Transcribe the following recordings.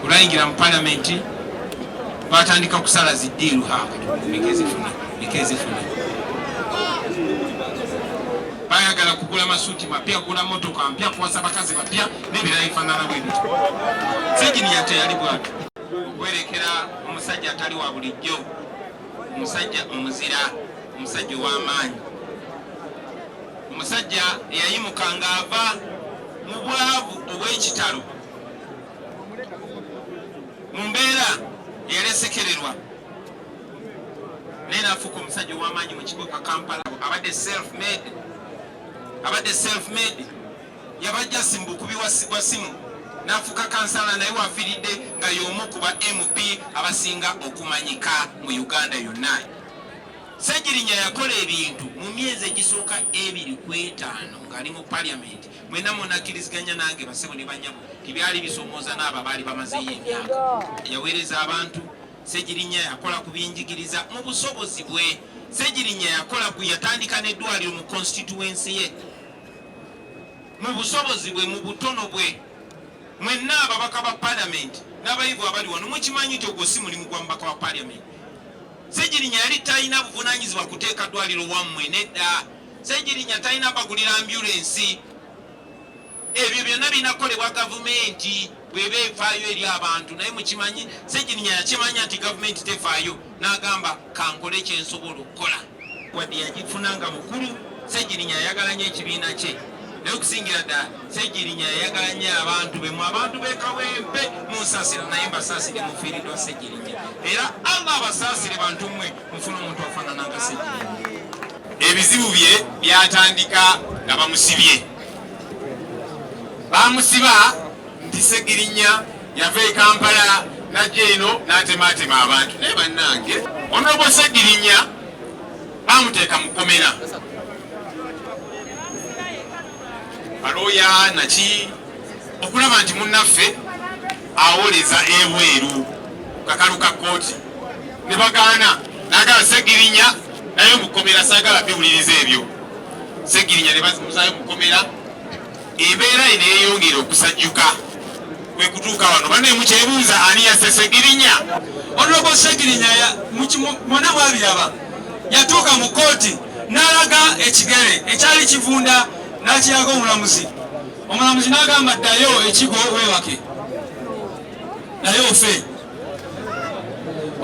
olwayingira mu palamenti batandika kusala ziddiiru haekzifuna bayagala kugula masuuti mapya kugula motoka mpya kuwasa bakazi bapya nebirala ebifanana bwe bityo sejiniya teyali bwatu okwerekera omusajja atali wa bulijjo omusajja omuzira omusajja ow'amaanyi omusajja eyayimuka ng'ava mu bwavu obw'ekitalo mu mbeera eyalesekererwa naye nafuuka omusajja ow'amaanyi mu kibuga Kampala abadde self made abadde self made yabajjasi mu bukubi bwa simu nafuuka kansala naye wafiiridde nga y'omu ku ba mp abasinga okumanyika mu uganda yonna Ssegirinya yakola ebintu mu myezi egisooka ebiri ku etaano ng'ali mu parliament mwena munakkiriziganya nange basebo ne banyabo tibyali bisomooza n'abo abaali bamazeeyo emyaka yaweereza abantu segirinya yakola ku byenjigiriza mu busobozi bwe segirinya yakola ku yatandika n'eddwaliro mu konsitituwensi ye mu busobozi bwe mu butono bwe mwenna ababaka ba palamenti n'abayivu abali wano mukimanyi nti ogwo si mulimu gwa mubaka wa palamenti segirinya yali talina buvunanyizibwa kuteeka ddwaliro wammwe nedda Ssegirinya talina bagulira ambyulensi. Ebyo byonna birina kukolebwa gavumenti bweba efaayo eri abantu naye mukimanyi Ssegirinya yakimanya nti gavumenti tefaayo n'agamba kankole kyensobola okukola. Wadde yagifuna nga mukulu, Ssegirinya yayagala nnyo ekibiina kye naye okusingira ddala Ssegirinya yayagala nnyo abantu be mu abantu b'e Kawempe munsasira naye mbasaasire mufiiridwa Ssegirinya era Allah abasaasire bantu mmwe mufuna omuntu afaanana nga Ssegirinya. Ebizibu bye byatandika nga bamusibye, baamusiba nti Ssegirinya yava e Kampala najja eno n'atemaatema abantu. Naye bannange, Onobo Ssegirinya baamuteeka mu kkomera. balooya naki okulaba nti munnaffe awoleza ebweru kakalu ka kkooti ne bagaana nagala segirinya naye mukomera sagala biwuliriza ebyo segirinya ne bamuzayo mukomera embeera eno eyongera okusajjuka kwe kutuuka wano bane mukyebuuza ani yasesegirinya onogo segirinya mwana bwabiraba yatuuka mu kkooti n'alaga ekigere ekyali kivunda n'akiraga omulamuzi omulamuzi n'agamba ddayo ekigo weebake naye ofe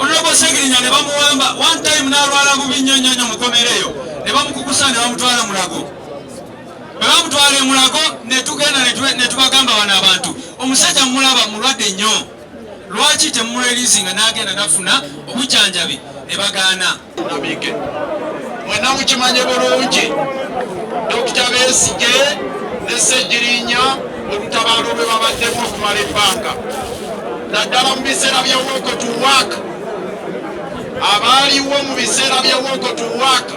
onobo segirinya ne bamuwamba one time n'alwala bubi nnyo nnyo nnyo mukomera eyo ne bamukukusa ne bamutwala mulago bwe bamutwala emulago ne tugenda ne tubagamba bano abantu omusajja mulaba mulwadde nnyo lwaki temumulelizinga nagenda nafuna obujanjabi ne bagaana nabike mwena mukimanye bulungi dokita besige ne segirinya olutabaalo lwe babaddemu okumala ebbanga naddala mu biseera bya woko to work abaaliwo mu biseera bya woko to work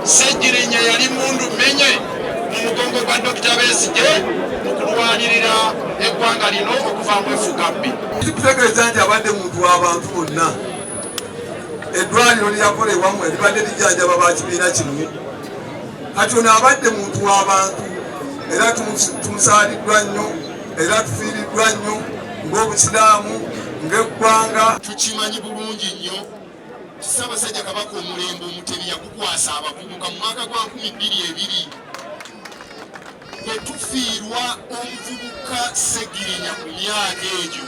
Ssegirinya yali mundu menye mu mugongo gwa Dokita Besigye mu kulwanirira eggwanga lino okuva mu efuga bbi. Kikutegeeza nti abadde muntu w'abantu bonna. Eddwaliro lyakola ewamu eribadde lijjanjaba ba kibiina kimu. Kati ono abadde muntu w'abantu era tumusaaliddwa nnyo era tufiiriddwa nnyo ng'Obusiraamu ng'eggwanga. Tukimanyi bulungi nnyo. Ssaabasajja Kabaka omulembe Omutebi yagukwasa abavubuka mu mwaka gwa nkumi bbiri ebiri bwe tufiirwa omuvubuka Ssegirinya ku myaka egyo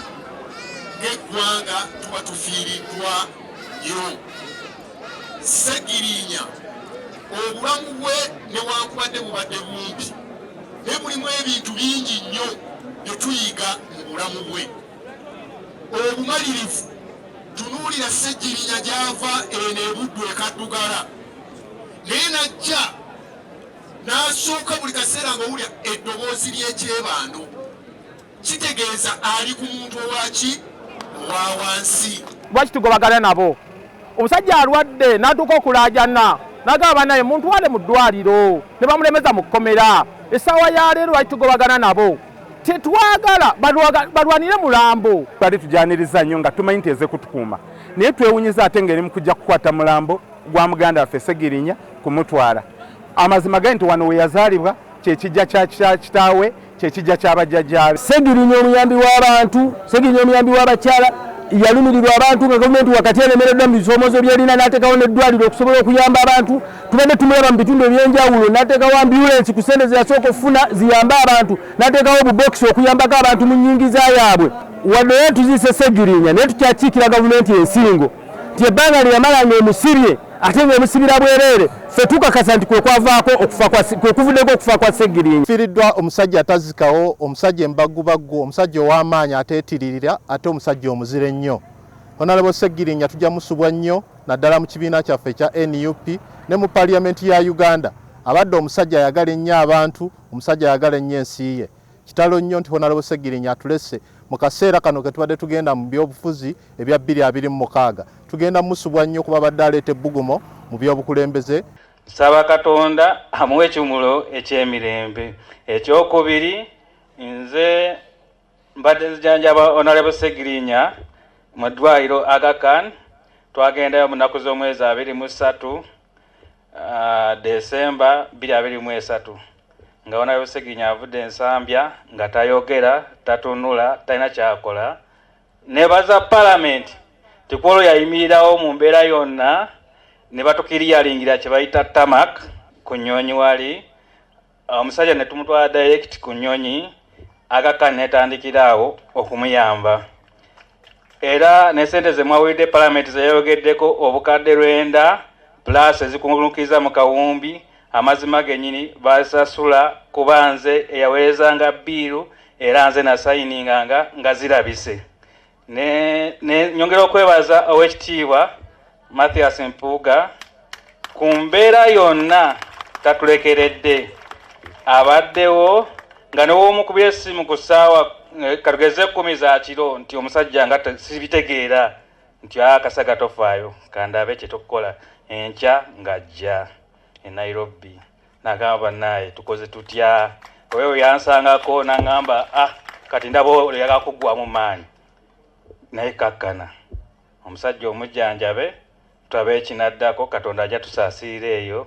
ng'eggwanga tuba tufiiriddwa nnyo. Ssegirinya obulamu bwe newankubadde bubadde bumpi naye mulimu ebintu bingi nnyo bye tuyiga mu bulamu bwe. obumalirivu tunuulira ssegirinya gyava eno ebuddu ekaddugala naye najja n'asooka buli kaseera ngaowulira eddoboozi ly'ekyebando kitegeeza ali ku muntu owaki owa wansi lwaki tugobagana nabo omusajja alwadde n'atuuka okulaajana nagamba banaye muntu wale mu ddwaliro ne bamulemeza mu kkomera essaawa ya leero lwaki tugobagana nabo tetwagala balwanire mulambo twali tujaniriza nnyo nga tumanyi nti ezekutukuuma naye twewunyiza ate ngaeri mukujja kukwata mulambo gwa muganda waffe segirinya kumutwala amazima gali nti wano weyazaalibwa kyekijja kya kitaawe kyekijja kyabajjajjaabe segirinya omuyambi w'abantu segirinya omuyambi w'abakyala yalumirirwa abantu nga gavumenti wakati eremereddwa mu bisoomozo byerina n'atekawo n'eddwaliro okusobola okuyamba abantu tubadde tumulaba mu bitundu ebyenjawulo nateekawo ambulensi ku sente zeyasooka okufuna ziyambe abantu nateekawo obubokisi okuyambako abantu mu nyingiza yaabwe wadde era tuziise segirinya naye tukyakiikira gavumenti ensingo nti ebbanga lyeyamala nga emusibye ate nga emusibira bwereere fe tukakasa nti kwekwavaako kwekuvuddeko okufa kwa segirinya fiiriddwa omusajja atazikawo omusajja embagubaggu omusajja ow'amaanyi ateetiririra ate omusajja omuzira ennyo Honalebo Ssegirinya tujja musubwa nnyo naddala mu kibiina kyaffe ekya nup ne mu paliyamenti ya Uganda. Abadde omusajja ayagala ennyo abantu, omusajja ayagala ennyo ensi ye. Kitalo nnyo nti Honalebo Ssegirinya atulese mu kaseera kano ke tubadde tugenda mu byobufuzi ebya bbiri abiri mu mukaaga. Tugenda musubwa nnyo kuba abadde aleeta ebbugumo mu byobukulembeze. Nsaba Katonda amuwe ekimwulo eky'emirembe. Ekyokubiri nze mbadde nzijanjaba honorable segirinya mu ddwaliro agakan twagendayo mu nnaku z'omwezi abiri mu ssatu ah, desemba biri abiri mu esatu nga honorable segirinya avudde ensambya nga tayogera tatunula talina kyakola nebaza palamenti tikwolo yayimirirawo mu mbeera yonna ne batukiriyalingira kye bayita tamak ku nnyonyi wali omusajja ne tumutwala direct ku nnyonyi akakka netandikira awo okumuyamba era ne sente ze mwawulidde palamenti zeyayogeddeko obukadde lwenda pulaasi ezikungunukiza mu kawumbi amazima genyini basasula kuba nze eyaweerezanga biiru era nze nasayininganga nga zirabise Nyongera okwebaza owekitiibwa Mathias Mpuuga ku mbeera yonna tatulekeredde abaddewo nga newomukubira essimu ku ssaawa eh, katugeze ekkumi za kiro nti omusajja nga sibitegeera nti akasaga tofaayo kandabe kyetukukola enkya ng'ajja e Nairobi. nagamba banaye tukoze tutya oyo yansangako nangamba ah kati ndaba oyagala kuggwamu maanyi naye kakkana omusajja omujjanjabe tulabe ekinaddako katonda ajja tusaasiira eyo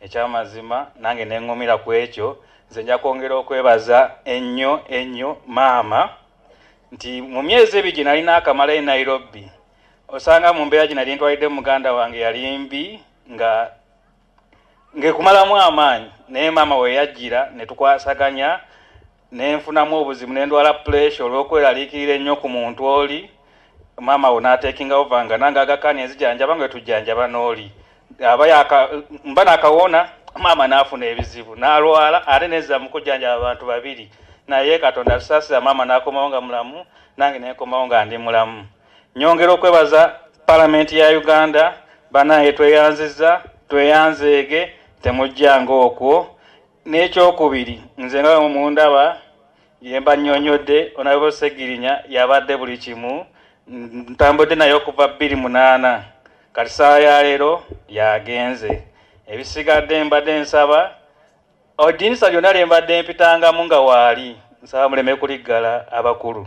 ekyamazima nange neŋŋumira ku ekyo nze nja kwongera okwebaza ennyo ennyo maama nti mu myezi ebiri gye nalina akamala e nairobi osanga mu mbeera gye nali ntwalidde muganda wange yali mbi nga ngekumalamu amaanyi naye maama weyajjira ne tukwasaganya ne nfunamu obuzibu ne ndwala puleesha olw'okweraliikirira ennyo ku muntu oli maama wo n'ateekinga ova nga nange agakaani enzijanjaba nga tujjanjaba n'oli aba yaka mba nakawona maama n'afuna ebizibu n'alwala ate nezza mu kujjanjaba abantu babiri naye katonda atusaasira maama n'akomawo nga mulamu nange nenkomawo nga ndi mulamu Nyongera okwebaza Palamenti ya Uganda, banange tweyanziza, tweyanzeege, temujjanga okwo. N'ekyokubiri, nze nga bwe mundaba ye mbannyonnyodde Onalebo Ssegirinya yabadde buli kimu, ntambudde naye okuva bbiri munaana kati ssaawa ya leero yagenze. Ebisigadde mbadde nsaba odinisa lyonna lye mbadde mpitangamu nga waali nsaba muleme kuliggala abakulu.